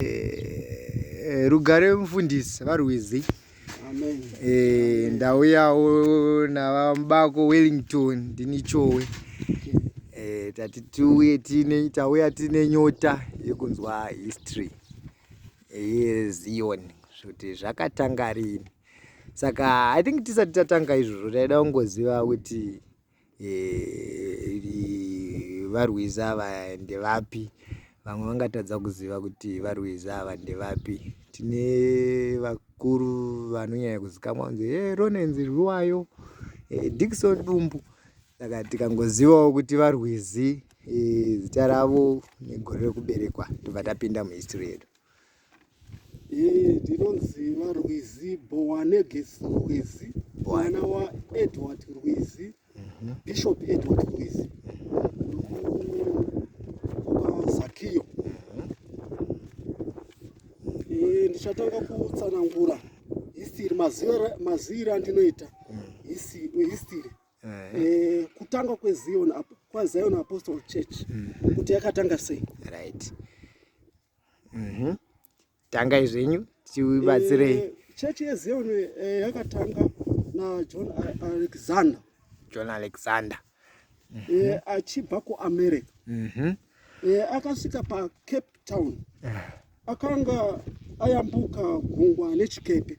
Eh, rugare mufundisi varwizi eh, ndauyawo navamubako wellington ndinichowe eh, tati tiuye tine tauya tine nyota yekunzwa history yezion kuti zvakatanga rini saka i think tisati tatanga izvozvo taida kungoziva kuti eh, varwizi ava ndevapi vamwe vangatadza kuziva kuti varwizi ava ndevapi tine vakuru vanonyanya kuzikamwa kunzi e ronenzi rwiwayo e, eh, dikison dumbu saka tikangozivawo kuti varwizi e, zita ravo negore rekuberekwa tobva tapinda muhistory yedu Eh, ndinonzi varwizi bowaneges rwizi mwana waedward rwizi mhm. bishop edward rwizi ukazakiyo mhm. eh, ndichatanga kutsanangura history maziviro andinoita mhm. history eh, kutanga kwezion kwazion apostol church kuti yakatanga sei right Mhm. Tangai zvenyu tibatsirei. Eh, Church yeZion eh, yakatanga naJohn A- Alexander John Alexander. eh, achibva kuAmerica. Mhm. Eh, akasvika paCape Town akanga ayambuka gungwa nechikepe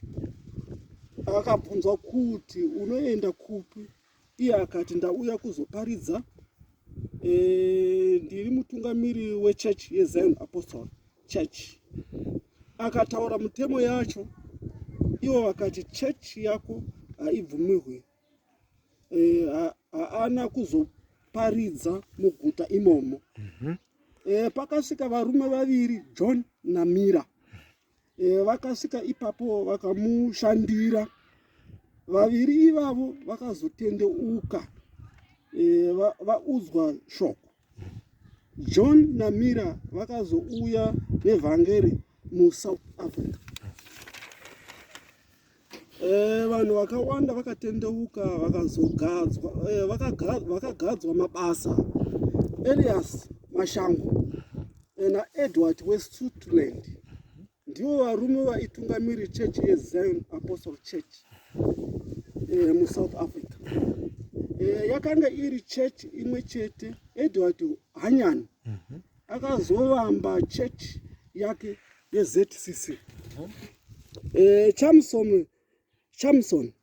akabvunzwa kuti unoenda kupi Iye akati, Ndauya kuzoparidza. E, ndiri mutungamiri wechurch yezion apostle church. Akataura mutemo yacho, ivo vakati, Church yako haibvumirwe, e, haana kuzoparidza muguta imomo. mm -hmm. E, pakasvika varume vaviri, John naMira. e, vakasvika ipapo vakamushandira vaviri ivavo vakazotendeuka e, va, vaudzwa shoko john namira vakazouya nevhangeri musouth africa Eh, vanhu vakawanda vakatendeuka vakazogadzwa eh, vakagadzwa mabasa elias mashango eh, naedward wesutland ndivo varume vaitungamiri chechi yezion apostle church musouth africa yakanga iri chechi imwe chete edward hanyani mhm. akazovamba chechi yake yezcc huh? eh, chamson chamson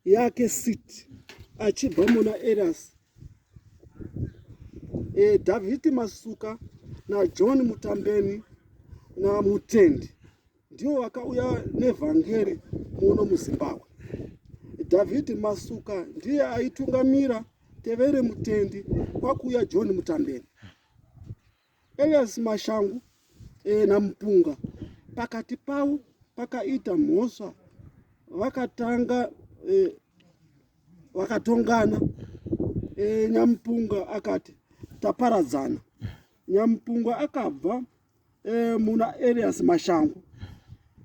yake sit achibva muna eras eh, davhiti masuka najohn mutambeni namutendi ndiwo wakauya nevhangeri muno muzimbabwe dhavhidhi masuka ndiye aitungamira tevere mutendi kwakuuya john mutambeni Elias Mashangu e, naMpunga pakati pavo pakaita mhosva vakatanga e, vakatongana e, Nyamupunga akati taparadzana. Nyamupunga akabva e, muna Elias Mashangu.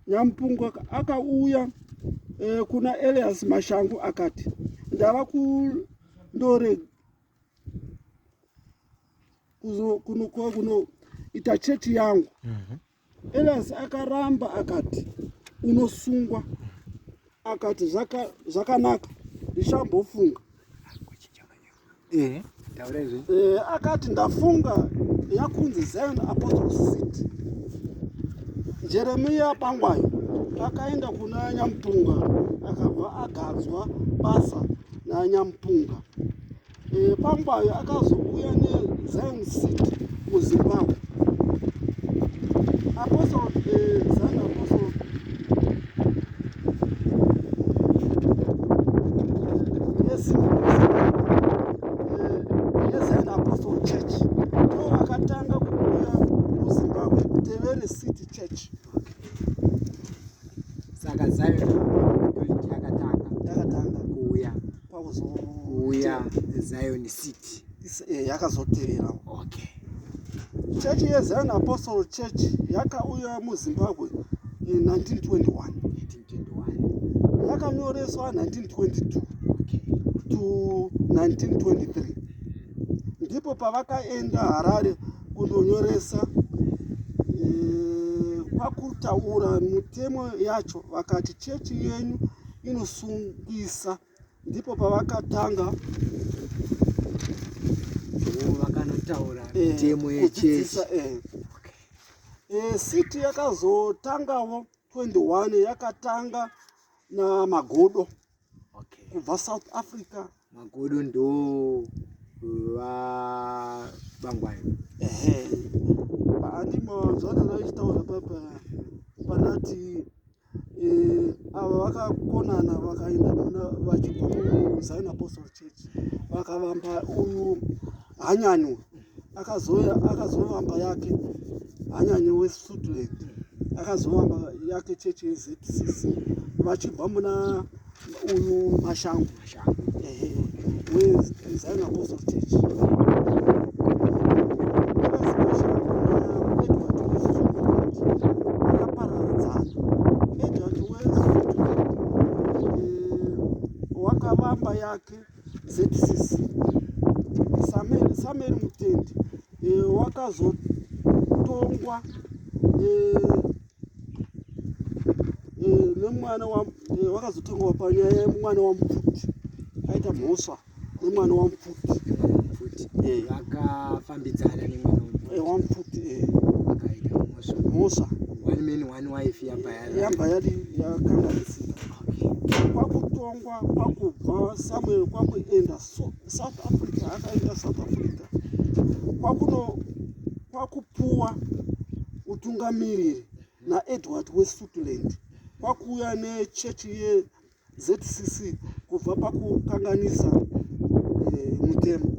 Nyamupunga akauya e, kuna Elias Mashangu akati ndava kundore kunoita chechi yangu mhm. elias akaramba akati unosungwa akati zvakanaka ndichambofunga eh, eh, akati ndafunga yakunzi zion apostle city jeremiya bangwayo akaenda kuna nyamupunga akabva agadzwa basa nanyamupunga E, Pangwayo akazouya neZion City muZimbabwe. Apostle e, Zion Apostle yeZion Apostle Church ndiwo akatanga kuuya muZimbabwe Tevere City Church. Saka Zion pakuzouya zion city eh, yakazotevera okay. chechi yezion apostle church yakauya muzimbabwe in 1921 yakanyoreswa 1922 okay. to 1923 ndipo pavakaenda harare kundonyoresa eh, kwakutaura mitemo yacho vakati chechi yenyu inosungisa ndipo pavakatanga vakanotaura eh, mitemo yechechi eh. eh, city yakazotangawo 21 yakatanga namagodo kubva south africa magodo ndo vabangwayo ehe andimo zvacho zvaitaura papa panati avo vakakonana vakaenda kuna vachizion apostle church vakavamba uyu hanyanyo akazovamba yake hanyanyo wesutland akazovamba yake chechi yezcc vachibva muna Uyu Mashangu. Mashangu. Ehe. Uyu Zion Apostle Church. Wakavamba yake ZCC Samuel Samuel Mutende eh, wakazotongwa eh, eh, nemwana eh, wakazotongwa panyaya yemwana wamupfuti aita mhosva nemwana wamupfuti eh. vakafambidzana nemwana wamupfuti mhosva yabva yadi yakanganisika kwakutongwa kwakubva samuel kwakuenda south africa akaenda south africa kwakuno kwakupuwa utungamiriri naedward wesutland kwakuuya nechechi yezcc kubva pakukanganisa eh, mutemo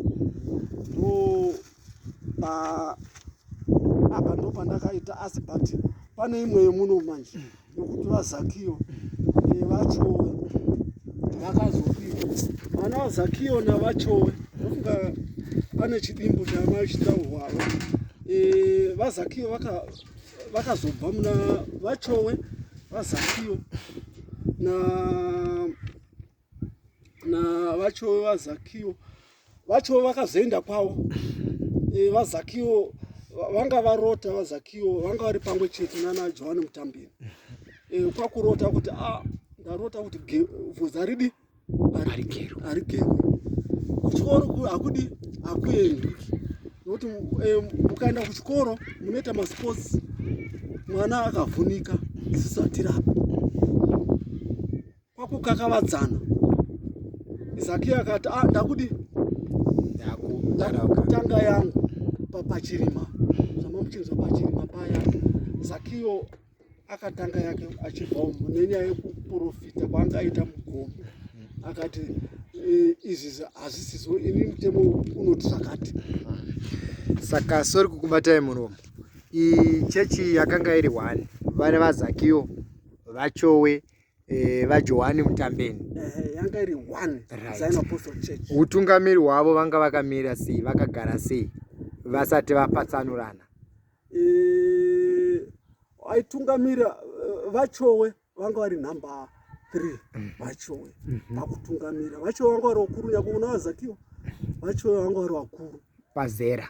ndo ah, apa ndo pandakaita asi but pane imwe yemuno manje yokuti vazakiyo eh, vachowe vakazopika vana vazakiyo navachowe ndofunga pane chidimbu chamai chitaurwavo eh, vazakiyo vakazobva muna vachowe vazakiyo na navacho vazakiwo vacho vakazoenda kwavo e, vazakiwo vanga varota vazakiwo vanga vari pamwe chete nana johani mutambiri e, kwakurota kuti a ah, ndarota kuti vhudzi aridi arigerwe kuchikoro hakudi hakuendwi nokuti e, mukaenda kuchikoro munoita masports mwana akavhunika zisatirapo kwakukakavadzana zaki akati ah, ndakudi ndakutanga yangu papachirima zvamuchinzwa pachirima paya zakiyo akatanga yake achibva umu nenyaya yekuprofita kwaangaita mugomo akati e, izvi hazisizo ini mutemo unoti zvakati saka sori kukubatai muromo chechi yakanga iri one vari vazakiyo vachowe Eh, vajohani mutambeni utungamiri hwavo vanga vakamira sei vakagara sei vasati vapatsanurana eh, aitungamira eh, vachowe vanga vari number three mhm. vachowe mhm. pakutungamira vachowe vanga vari vakuru nyakuona vazakiwa vachowe vanga vari vakuru pazera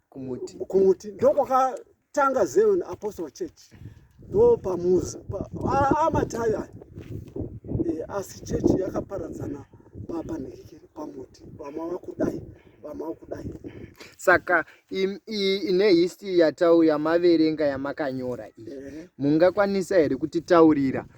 kumuti kumuti ndokwakatanga zion apostle church ndo pamuzi amatayo aya eh, asi chechi yakaparadzana papa nekikiri pamuti vamwe vakudai vamwe vakudai saka ine history yatauya maverenga yamakanyora iyi mungakwanisa here kutitaurira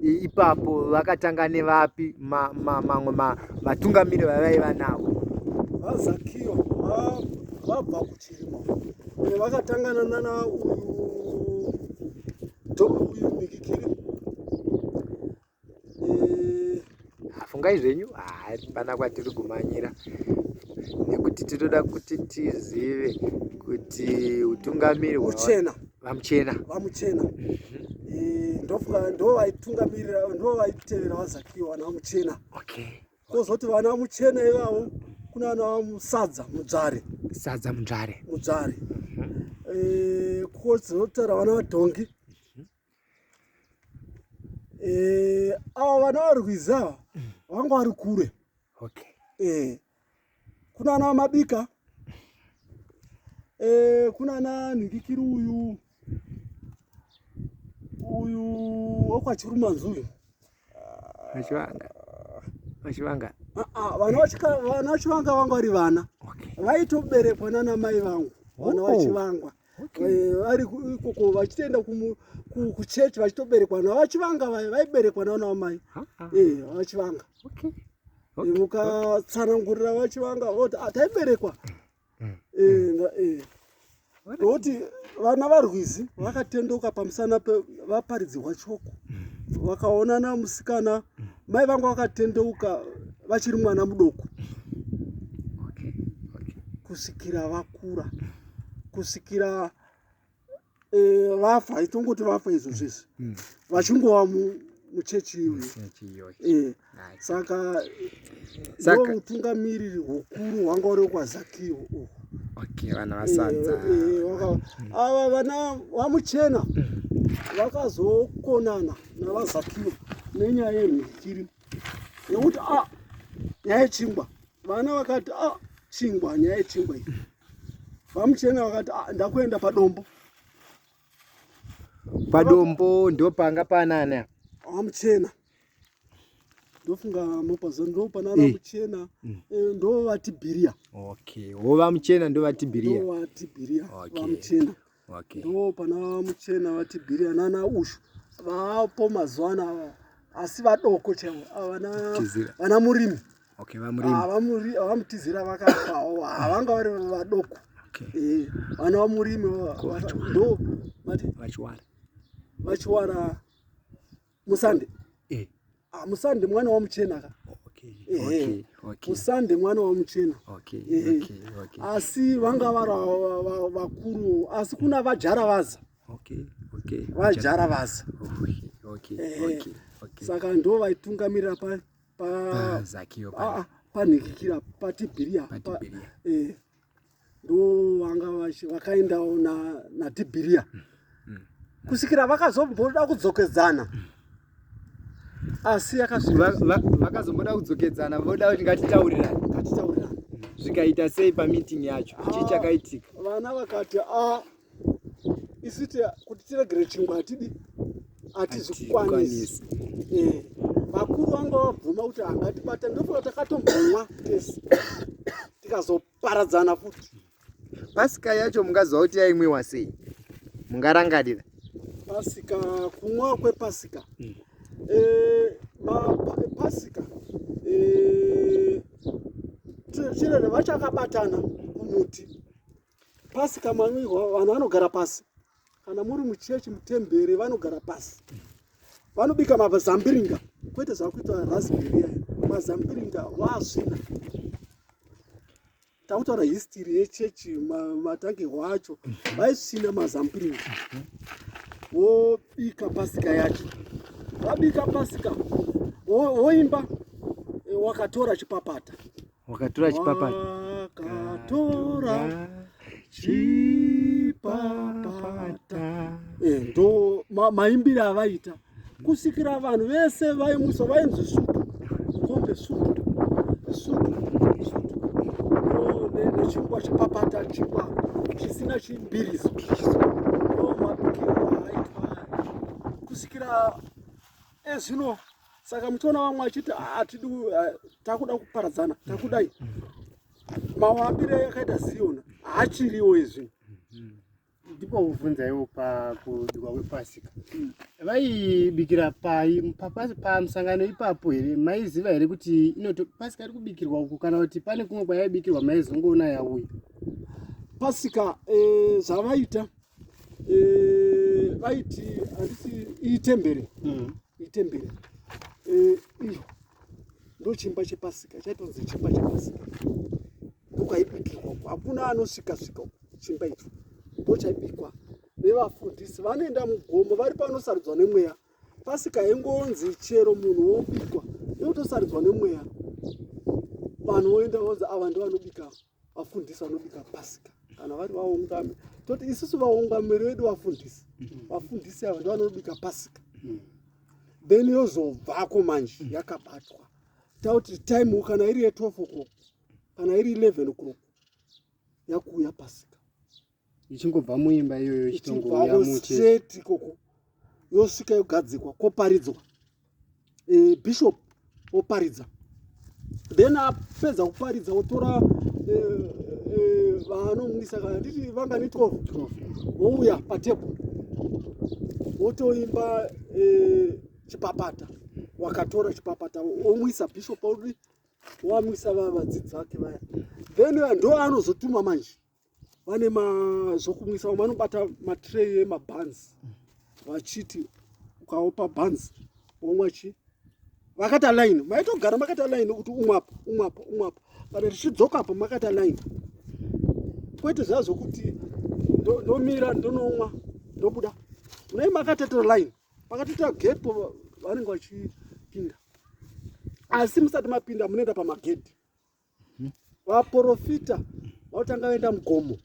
ipapo vakatanga nevapi mamwe matungamiri vavaiva navo vazakiyo vabva kuchirima vakatangana nana uyu uyu mikikiri ah, fungai zvenyu hapana ah, kwatiri kumanyira nekuti tinoda kuti tizive kuti utungamiri hwachena vamuchena vamuchena mhm. eh, ndo vaitungamirira ndo vaitevera vazakiwa vana vamuchena kozoti vana vamuchena ivavo kuna vana vamusadza mudzvare sadza mudzvare mudzvare mhm. eh, kozotara vana vadhongi Eh, ava vana varwizi ava vanga vari kure okay. eh, kuna ana vamabika eh, kuna ana nhikikiri uyu uyu wekwachirumanzi uyu vachivanga vachivanga ah, ah, vana vachivanga vanga vari vana vaitoberekwa nana mai vangu vana oh. vachivangwa Eh, ari ikoko vachitoenda kuchechi vachitoberekwa navo vachivanga vaya vaiberekwa navo navo mai eh, vachivanga eh, mukatsanangurira vachivanga voti ah, taiberekwa mm, mm. nokuti vana varwizi vakatendoka pamusana pevaparidzirwa choko mm. vakaonana musikana mai vanga vakatendeuka vachiri mwana mudoko kusvikira vakura kusvikira eh, vafa e, itongoti vafa izvo zvese mm. mm. vachingova muchechi iyoyo eh, saka ndo utungamiriri hukuru hwanga uri kwazakio uhu okay, vana eh, vasadza eh, mm. ava vana vamuchena mm. vakazokonana navazakio nenyaya yemhikiri nekuti a ah, nyaya yechingwa vana vakati a ah, chingwa nyaya yechingwa iyi Vamuchena vakati ah, ndakuenda padombo. Padombo ndo panga panani apa. Vamuchena. Ndofunga mopazo ndo pana vamuchena eh. mm. eh, ndo vati biria. Okay. Wo vamuchena ndo vati biria. Ndo vati biria. Okay. Vamuchena. okay. ndo pana muchena vati bhiria nana ushu vapo mazuva ano ava asi vadoko chavo vana murimi vamutizira vakafawo havanga vari vadoko eh, vana vamurimi ndo vachiwara musande eh. ah, musande mwana wamuchena ka musande mwana wamuchena asi vanga vari vakuru asi kuna vajara vaza vajara vaza saka ndo vaitungamirira pa pa ah, ah, panhikikira patibhiria eh. ndo vanga vakaendawo natibhiriya na mm. kusvikira vakazomboda kudzokedzana mm. asi yakavakazomboda kudzokedzana voda kuti ngatitaurirani ngatitaurirani zvikaita sei pameeting yacho chii chakaitika vana vakati a ah, isu kuti tiregere chingwa hatidi hatizvikwanisi eh, vakuru vanga vabvuma kuti hangatibata ndofana takatombomwa tese tikazoparadzana futi pasika yacho mungaziva kuti yaimwiwa sei mungarangarira pasika kumwa kwepasika mm. eh, pasika eh, chirere vachakabatana kumuti pasi kamanwirwa vanhu vanogara pasi kana muri muchechi mutemberi vanogara pasi vanobika mazambiringa kwete zvakuita rasberia mazambiringa waasvina takutaura histiri yechechi matange wacho vaisvina mazambiringa wobika pasika yacho wabika pasika woimba wakatora chipapata wakatora chipapa wakatora chipapata eh, ndo maimbire avaita kusikira vanhu vese vaimusa vainzi sutu kombe sutu sutu sutu nechingwa chipapata chingwa chisina chimbiriso ndo mabikirwa aitwa kusikira ezvino eh, saka muchiona vamwe vachiti hatidi ah, ah, takuda kuparadzana takudai mawambire yakaita siyona haachiriwo izvi ndipo kuvhunzaiwo pakudikwa kwepasika vaibikira pai pamusangano ipapo here maiziva here kuti inoto pasika iri kubikirwa uku kana kuti pane kumwe kwayaibikirwa maizongoona yauya pasika eh, zvavaita eh, vaiti handisi itembere mm. itembere eh, iyo ndochimba chepasika chaitonzi chimba chepasika ndokaibikirwa uko hakuna anosvikasvika uko chimba icho ndochaibikwa nevafundisi vanoenda mugomo vari panosarudzwa nemweya pasika hengonzi chero munhu wobikwa nekutosaridzwa nemweya vanhu voenda vonzi ava ndivanobika vafundisi vanobika pasika kana vari vaungami toti isusu vaungamiri vedu vafundisi vafundisi ava ndivanobika pasika then yozobvako manje yakabatwa tauti time kana iri ye12 o'clock kana iri 11 o'clock yakuuya pasika ichingobva muimba iyoyo ichitongouya museti ikoko yosvika yogadzikwa koparidzwa eh, bishop oparidza then apedza kuparidza otora eh, eh, vaanomwisa kana titi vanga ni 12 wouya patebho wotoimba chipapata wakatora chipapata omwisa bishop audi wamwisa vavadzidzi vake vaya then ndo anozotuma manje vane zvokumwisa vamwe vanobata matray emabans vachiti ukaopa bans womwa chi vakata line maitogara makata line kuti umwapo umwapo umwapo kana tichidzokapo makata line kwete zva zvokuti ndomira ndonomwa ndobuda munai makateta line pakateta gepo vanenge vachipinda asi musati mapinda munoenda pamagedhi vaprofita vautanga vaenda mugomo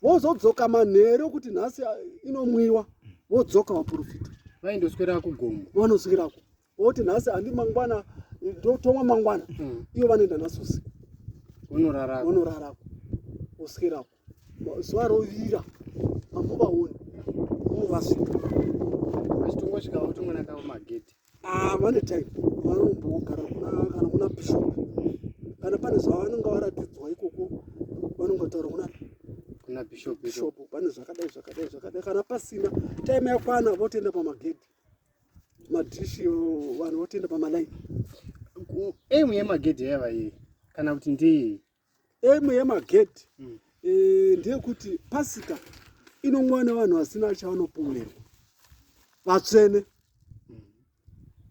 vozodzoka manheru kuti nhasi inomwiwa vodzoka vaprofita vaindoswera kugomo vanoswera ku voti nhasi handi mangwana ndotomwa mangwana mm. ivo vanoenda nhasi usiku vonorarako oswera ku zuva rovira mambo vaone movasvika vachitongosvika votongona kavo magedhi ah, vane time vanombogara kana kuna bishop kana pane zvavanonga varatidzwa ikoko vanonga taura kuna kuna bishop bishop pane zvakadai zvakadai zvakadai kana pasina time yakwana votoenda pamagedhi madhishi vanhu votoenda pamalaini aim yemagedhi yaiva yei kana kuti ndeyei Emwe yemagedhi mm. e, ndeyekuti pasika inongova nevanhu vasina chavanopomerwa vatsvene mm.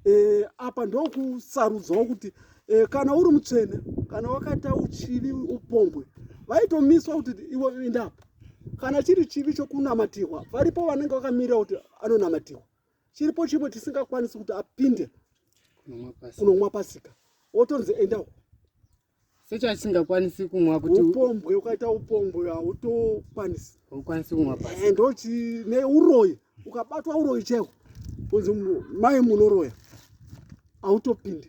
e, apa ndokusarudzwawo kuti e, kana uri mutsvene kana wakaita uchivi upombwe vaitomiswa kuti iwo indapo kana chiri chivi chokunamatirwa varipo vanenge vakamirira kuti anonamatirwa chiripo chimwe chisingakwanisi kuti apinde kunomwa pasika wotonzi endawo sechasingakwanisi kumwa kuti upombwe ukaita upombwe hautokwanisi haukwanisi kumwa pasi eh, ndochi neuroyi ukabatwa uroyi cheko kunzi mai munoroya hautopindi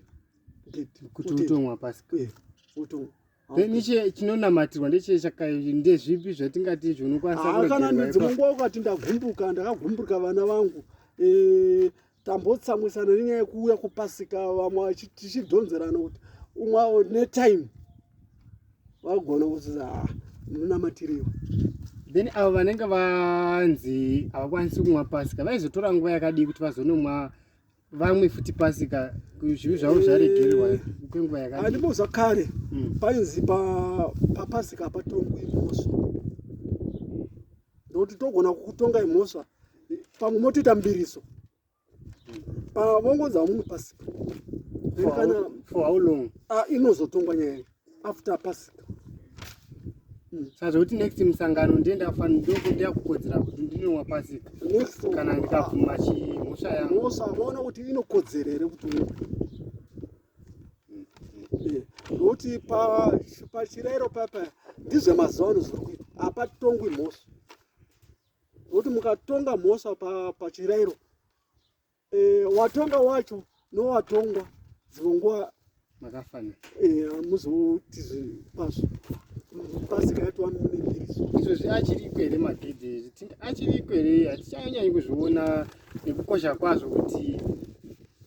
geti kuti utomwa pasi eh, utomwa niche chinonamatira ndeche chaka ndezvipi zvatingati zvinokwanisa kana ndidzimungwa ukati ndagumbuka ndakagumbuka vana vangu eh, tambotsamwisana nenyaya yekuuya kupasika vamwe tichidhonzerana kuti umwe avo netime vagona kuti ah, munamatiriwe then avo vanenge vanzi havakwanisi kumwa pasika vaizotora nguva yakadii kuti vazonomwa vamwe futi pasika zvivi zvavo zvaregererwa eh, kwenguva yakadii andimbo zvakare hmm. painzi papasika patongwi mosvo nokuti togona kukutongai mhosva pamwe motoita mbiriso pavongonza munhu pasi ah, inozotongwa nyaya after pasika hmm. sazvekuti next musangano ndiye ndafandokuda kukodzera kuti ndinowa pasika kana ndikabvuma chimhosva yamhosva vaona kuti inokodzera here kuti nokuti pachirayiro papa ndizvemazuva ano zviri kuita hapatongwi mhosva nokuti mukatonga mhosva pachirayiro eh, watonga wacho nowatongwa dzimwe nguva makafanira eh, muzoti pazvo pasika yatova munembiriso izvozvi achiriko here magedhi ezvi achiriko here hatichanyanyikuzviona nekukosha kwazvo kuti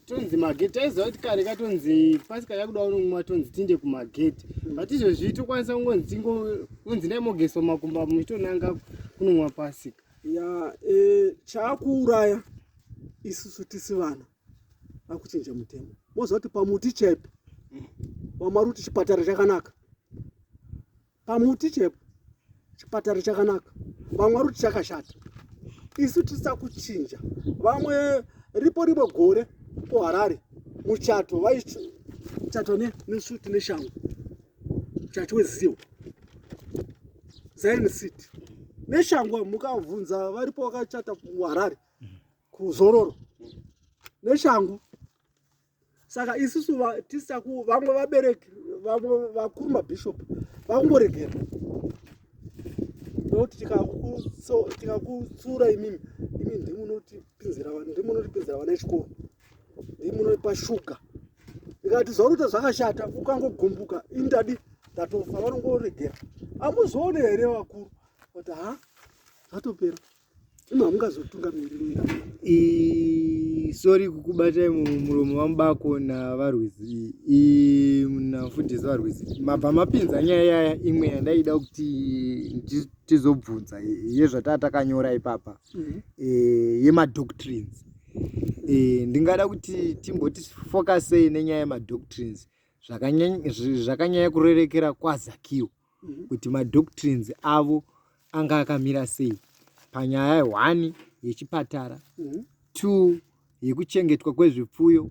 tonzi magate taiziva kuti kare katonzi pasi kaya kuda unomwa tonzi tinde kumagate but izvezvi tokwanisa kungonzi tingonzi ndai mogeswa makumba muchitonanga kunomwa pasika ya e, chaakuuraya isusu tisi vana akuchinja mutemo moziva kuti pamuti chaipo wamwari kuti chipatara chakanaka pamuti chepo chipatara chakanaka vamwe vari kuti chakashata isu tisisa kuchinja vamwe ripo rimwe gore kuharare muchato vaichato nesuti neshango chato weziwo zion city neshango mukavhunza varipo vakachata kuharare kuzororo neshango saka isusu tisaku vamwe vabereki vamwe vakuru mabishop vakungoregera nokuti tikakutsura imimi imi ndimunotipinzira ndimunotipinzira vana echikoro ndimunoipa shuga ikati zvaurita zvakashata ukangogumbuka indadi ndatofa vanongoregera amuzoone here vakuru kuti ha zvatopera Ima ungazotunga miri i sorry kukubatai muromo wamubako navarwizi i mnafundisi varwizi mabva mapinza nyaya yaya imwe yandaida kuti tizobvunza yezvataa takanyora ipapa mhm. e, yemadoctrines e, ndingada kuti timboti focusei nenyaya yemadoctrines zvakanyanya kurerekera kwazakiwo mhm. kuti madoctrines avo anga akamira sei panyaya yehwani yechipatara mhm. two yekuchengetwa kwezvipfuyo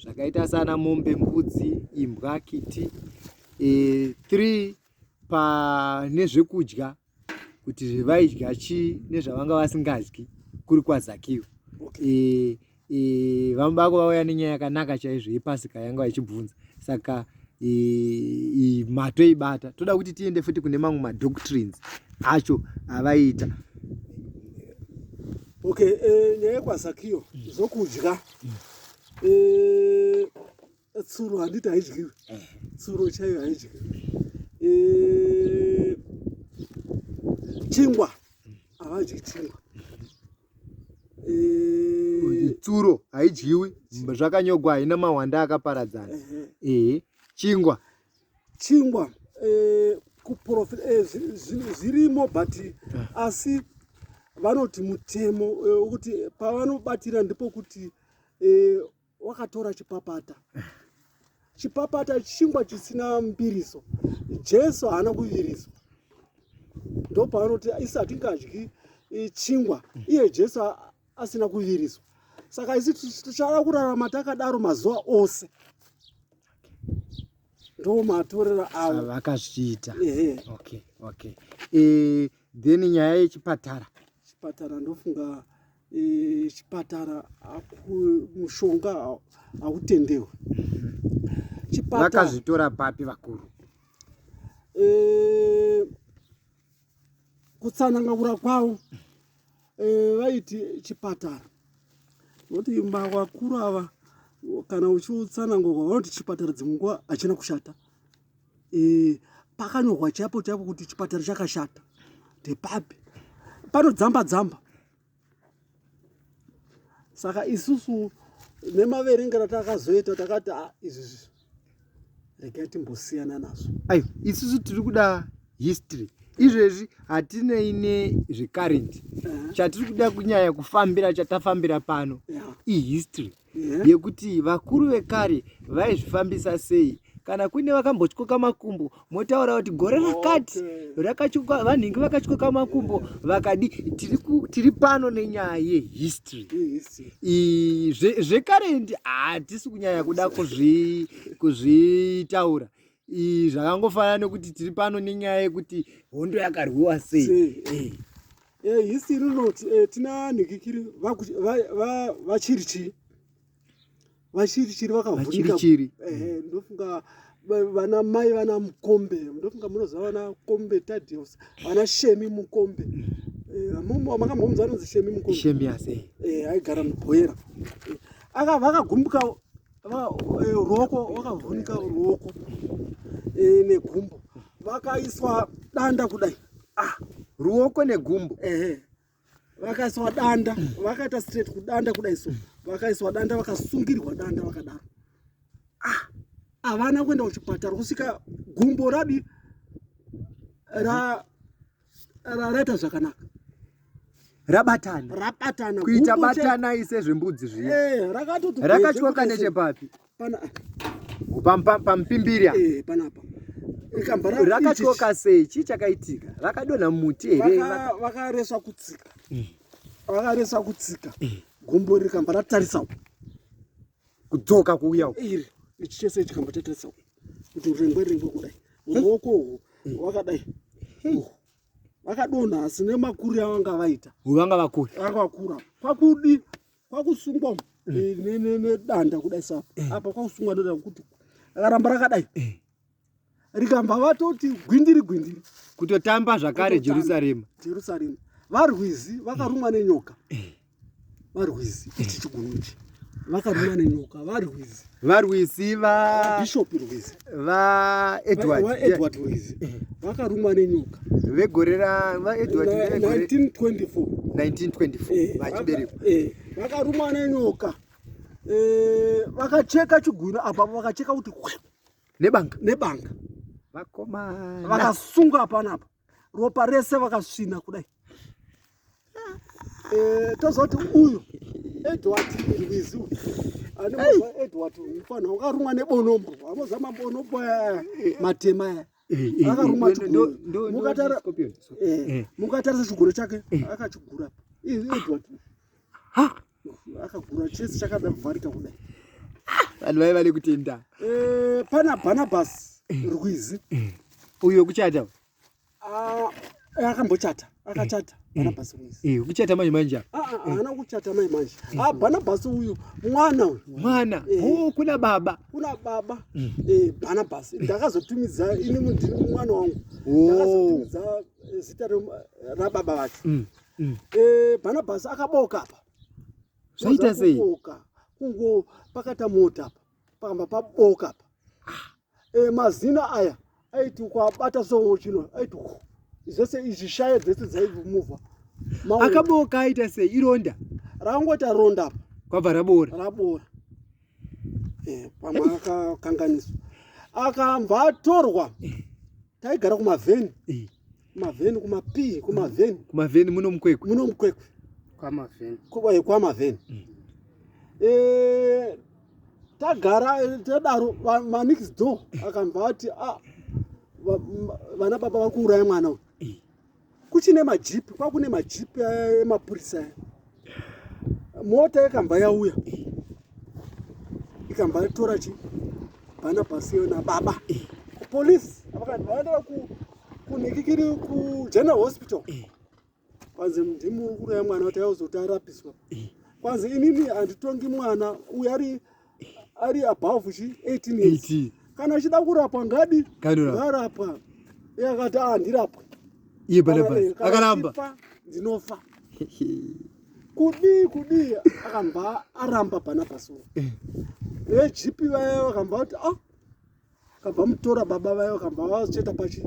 zvakaita sana mombe mbudzi imbwa kiti e, three pane zvekudya kuti zvevaidya chii nezvavanga vasingadyi kuri kwazakiwa okay. e, e, vamubako vauya nenyaya yakanaka chaizvo yepasika yanga vachibvunza saka e, matoibata toda kuti tiende futi kune mamwe madoctrines acho avaiita okay e, nyaya yekwazakiyo zvokudya mm. e, tsuro handiti haidyiwi tsuro chaiyo haidyiwi eh, chingwa havadyi chingwa eh, tsuro haidyiwi zvakanyogwa haina mahwanda akaparadzana ehe eh, chingwa chingwa zvirimo but asi vanoti mutemo wekuti pavanobatira ndipo kuti wakatora chipapata chipapata chingwa chisina mbiriso jesu haana kuviriswa ndo paanoti isi hatingadyi chingwa iye jesu asina kuviriswa saka isi tichada kurarama takadaro mazuva ose ndo matorero avo vakazviita okay, okay. e, then nyaya yechipatara chipatara ndofunga e, chipatara mushonga hautendewe vakazvitora papi vakuru e, kutsanangura kwavo e, vaiti chipatara noti vakuru ava kana uchiutsanangurwa vanoti chipatara dzimwe nguva hachina kushata e, pakanyorwa chaipo chaipo kuti chipatara chakashata ndepapi panodzamba dzamba saka isusu nemaverengero takazoita takati ah, izvizvi regai timbosiyana nazvo ayo isusu tiri kuda history izvezvi hatinei nezvecurrent chatiri kuda kunyaya kufambira chatafambira pano ihistory yeah. yekuti vakuru vekare vaizvifambisa sei kana kuine vakambotyoka makumbo motaura kuti gore rakati rakatyoka vanhingi vakatyoka makumbo vakadi tiri, ku, tiri pano nenyaya yehistory zvekarendi hatisi kunyanya kuda kuzvitaura kuzvi zvakangofanana nekuti tiri pano nenyaya yekuti hondo yakarwiwa sei eh. eh, hisi rinoti eh, tina nhikikiri vachirichiri vachirichiri vakavhunichiri ndofunga vana mai vana mukombe ndofunga munoziva vana kombe tadios vana shemi mukombe makambomuza anonzi shemi mukombe shemi ase aigara mubhoera akavakagumbuka eh, ruoko wakavhunika ruoko eh, negumbo vakaiswa danda kudai ah. ruoko negumbo ehe vakaiswa danda vakaita straight kudanda kudai so vakaiswa danda vakasungirwa danda vakadaro ah havana kuenda kuchipatara kusvika gumbo radi ra raita zvakanaka rabatana rabatana kuita batana ise zvembudzi zviya eh, rakatoti rakatyoka nechepapi pana pampimbiri eh, panapa rakatyoka sei chii chakaitika rakadonha muti here vakaresa kutsika mm. vakaresa kutsika mm. gombo rikamba ratarisa kudzoka kuuya uko iri ichi chese chikambo chatarisa uko kuti urengwe rengwe kudai muoko uhu wakadai vakadonha asi nemakuri avanga vaita vanga vakura vanga vakura kwakudi kwakusungwa mm. eh, nedanda kudai sa eh. apa kwakusungwa nedanda kuti akaramba rakadai eh. rikabva vatoti gwindiri gwindiri kutotamba zvakare jerusarema jerusarema varwizi vakarumwa nenyoka eh. varwizi ichi chigunu ichi vakarumwa nenyoka varwizi varwizi vabishop rwizi vaedwardedward rwizi eh. vakarumwa nenyoka vegore ravaedward 1924 eh, vachiberekwa vakarumwa nenyoka vakacheka chigunu apapo vakacheka kuti nebanga nebanga vakomana vakasunga hapana apa ropa rese vakasvina kudai eh, tozoti uyu edward irwizi uyu anemoa edward mfana wakarumwa nebonombo amoza mabonombo matema aya akarumwa mukatarisa chiguro chake akachigura edward akagura chese chakada kuvharika kudai ah, vanhu vaiva nekutenda eh, pana barnabas rwizi uyo kuchata ah, eh, akambochata akachata eh, barnabas rwizi kuchata mai manje ah, haana kuchata mai manje a barnabas uyu mwana uyu mwana oh, kuna baba kuna baba mm. barnabas ndakazotumidza ini mundiri mwana wangu oh. ndakazotumidza zita rababa vacho mm. mm. eh, Barnabas akaboka apa zvaita sei kungo pakata mota apa pakamba paboka apa ah. eh, mazina aya aiti ukabata so chino aiti zvese izvi shaye dzese dzaivumuva akaboka aita sei ironda rakangoti aronda apa kwabva rabora rabora eh, pamwe akakanganiswa akambva atorwa taigara kumavheni eh. Kumavheni kumapii kumavheni. Kumavheni muno mukwekwe. Muno mukwekwe. Kwamavheni. Kwa kwamavheni. Mm. Eh tagara eh, tadaro ma next door akambva ati ah vana baba vari kuuraya mwana uyu kuchine majipi kwakune majipi emapurisa eh, mota yakamba yauya ikamba yatora chi bana pasi yona baba kupolice vakandivaendera kunhikikiri kugeneral hospital kwanzi ndimukuru yamwana kuti yauzoti arapiswa kwanzi inini handitongi mwana uyo ari ari above chi 18 years kana achida kurapwa ngadi ngarapwa iye akati a ah, ndirapwe iye pane basi akaramba ndinofa kudii kudii akambva aramba pana pasoro eh. vegp vaya vakambva kuti a ah, Akabva mutora baba vaye vakabva vacheta pachi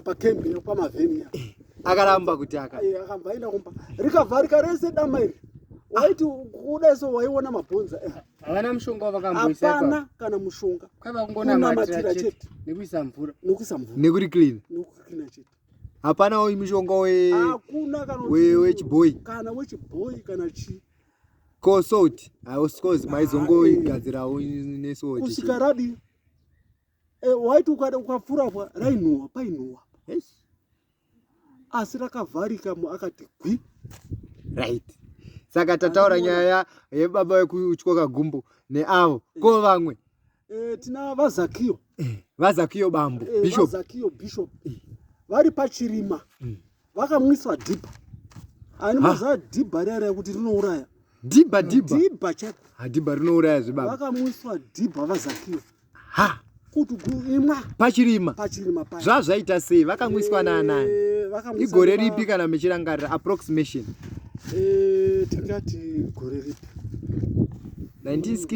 pakembi nekwamavhenia akaramba kuti akakamba aenda kumba rikavharika rese dama iri waiti kuda so waiona mabhonza eh. havana mushonga wavakamboisapana kana mushonga kwavakungonamatira chete nekuisa mvura nokuisa mvura nekuri clean nokucleana chete hapana uyu mushonga wechibhoyi kana wechibhoyi kana chii Ko salt hausi coz maizongoigadzirawo nesalt. Kusvika radi. Eh waiti ukada ukapfura kwa rainhuwa painhuwa. Yes. Asi rakavharika mu akati gwi. Right. Saka tataura nyaya yebaba vekutyoka gumbo neavo ko vamwe Eh, tina vazakiyo eh, vazakiyo bambo eh, bishop vazakiyo bishop vari pachirima mm. vakamwiswa dhibha ani maziva dhibha riya riya kuti rinouraya dhibha dhibha dhibha chako hadhibha rinouraya zvibaba vakamwiswa dhibha vazakiyo ha kuti kuimwa pachirima pachirima pa zvazvaita sei vakamwiswa naanani igore ripi kana mechirangarira approximation tingati gore ripi 1960